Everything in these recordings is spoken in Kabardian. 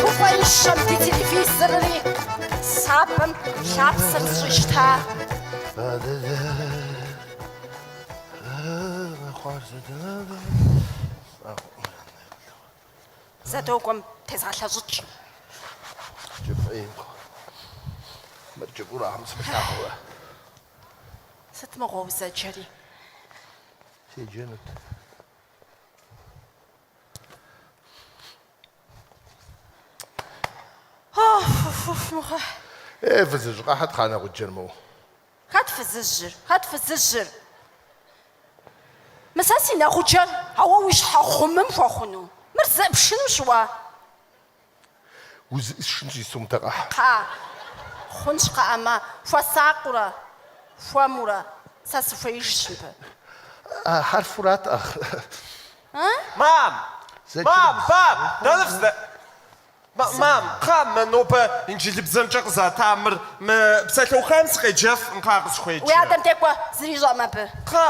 Гуфӏэищэм ди телевизорри сабэм лъапсэр зэщӏищта. Зэдокӏуэм тезгъэлъэщӏыкӏ. Сыт мыгъуэу зэджэри? Е, фызыжь, къэхьыт, кхъа, нэгъуджэр моу. Хэт фызыжьыр? Хэт фызыжьыр? Мы сэ си нэгъуджэр, ауэ уи щхьэ гъумым хуэхъуну. Мыр зэӏыпшынущ уэ. Узэӏысшынщи сэ, мыдэ къэхь. Кхъа, хъунщ кхъыӏэ мэ. Хуэсакъыурэ, хуэмурэ, сэ сыхуеижщ мыбы. А хьэрфурат ӏэ. Мам! Мам! Мам! Дэнэ фызэ? Мам, кхъа, мэ нобэ инджылыбзэмкӏэ къызэта мыр, мы псалъэухам сыкъеджэф, кхъа, къысхуеджэ. Уи адэм де кӏуэ, зыри ищӏэӏым абы. Кхъа!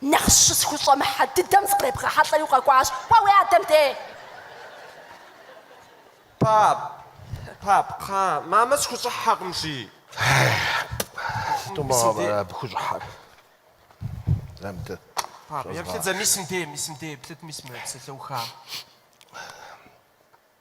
Нэхъ щысхущӏэмыхьэ дыдэм зыкъребгъэхьэлӏэри укъэкӏуащ. Уэ уи адэм де? Пап. Пап, кхъа, мамэ сыхущӏыхьэкъым, жи. Сыту мыгъуэм ара абы хущӏыхьэр? Зэ мыдэ. Пап, еплъыт зэ, мис мыде, мис мыде, еплъыт, мис мы псалъэуха.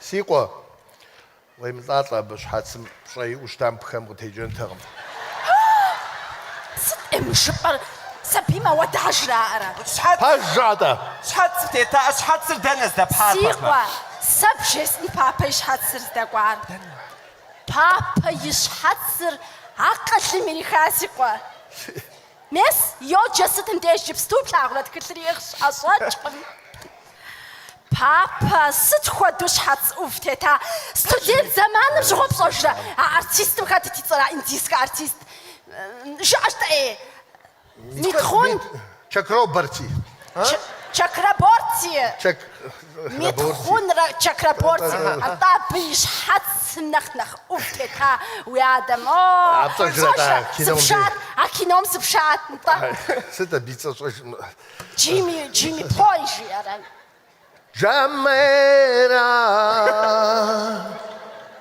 Си къуэ, уемылӏалӏэ абы, щхьэцым пщӏэ иӏэу щытам пхэм къытекӏэнтэкъым. Сыт-тӏэ мы жыпӏэр? Сабийм ауэдэхэ жраӏэрэ? Пэжщ, атӏэ. Щхьэц тета, а щхьэцыр дэнэ здэпхьар, папэ? Си къуэ, сэ бжесӏэни папэ и щхьэцыр здэкӏуар. Папэ и щхьэцыр акъылым ириха, си къуэ? Мес, йоджэ сытым деж иджыпсту плъагъурэ тхылъыр иӏыгъщ, ӏэщӏэкӏкъым. Папэ, сыт хуэдэу щхьэц ӏув тета? Студент зэманым щыгъуэ пщӏэжрэ? А артистым хэтыт и цӏэр, а индийскэ артист? Жыӏэж-тӏэ, Митхъун. Чакраборти. Чакраборти. Митхъун Чакраборти, атӏэ абы и щхьэцым нэхъ нэхъ ӏув тета уи адэм. О, пщӏэжрэ, сыпшат, а кином сыпшат, нтӏэ. Сыт абы и цӏэ щӏэжмэ? Джимми, Джимми Пой жиӏэрэ? Джамейрэ.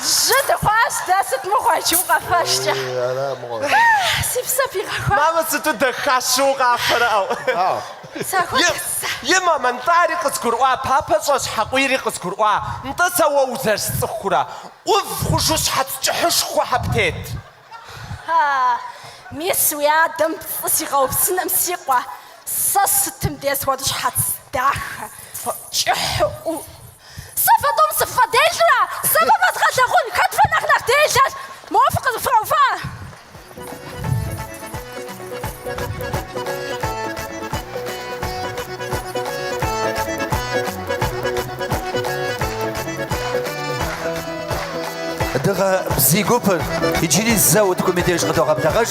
Жьы дыхъуащ дэ, сыт мыгъуэ иджы укъэфэжкӏэ? Ии, ара мыгъуэр? Ха-а, си псэ пигъэхуа! Мамэ, сыту дахащэу укъафэрэ, ау! Ау! Сэ Е, хуэсхьыцэ! е, мамэ, нтӏэ ари къызгурыӏуа, папэ щӏэщхьэкъуийри къызгурыӏуа, нтӏэ сэ уэ узэрысцӏыхурэ? ӏув хъужу щхьэц кӏыхьышхуэхэ птет! Хьэ, мис уи адэм пцӏы сигъэупсыным си къуэ, сэ сытым дес уэ дыщхьэц дахэ, кӏыхьу. Сэ фэ тӏум сыффӏэделэрэ, сэ фэ фэзгъэлъагъун, хэт фэ нэхъ нэхъ делэр? Моуэ фыкъызыфрауфа? Дыгъэ бзий гупыр иджыри зэ утыкум и деж къыдогъэблэгъэж.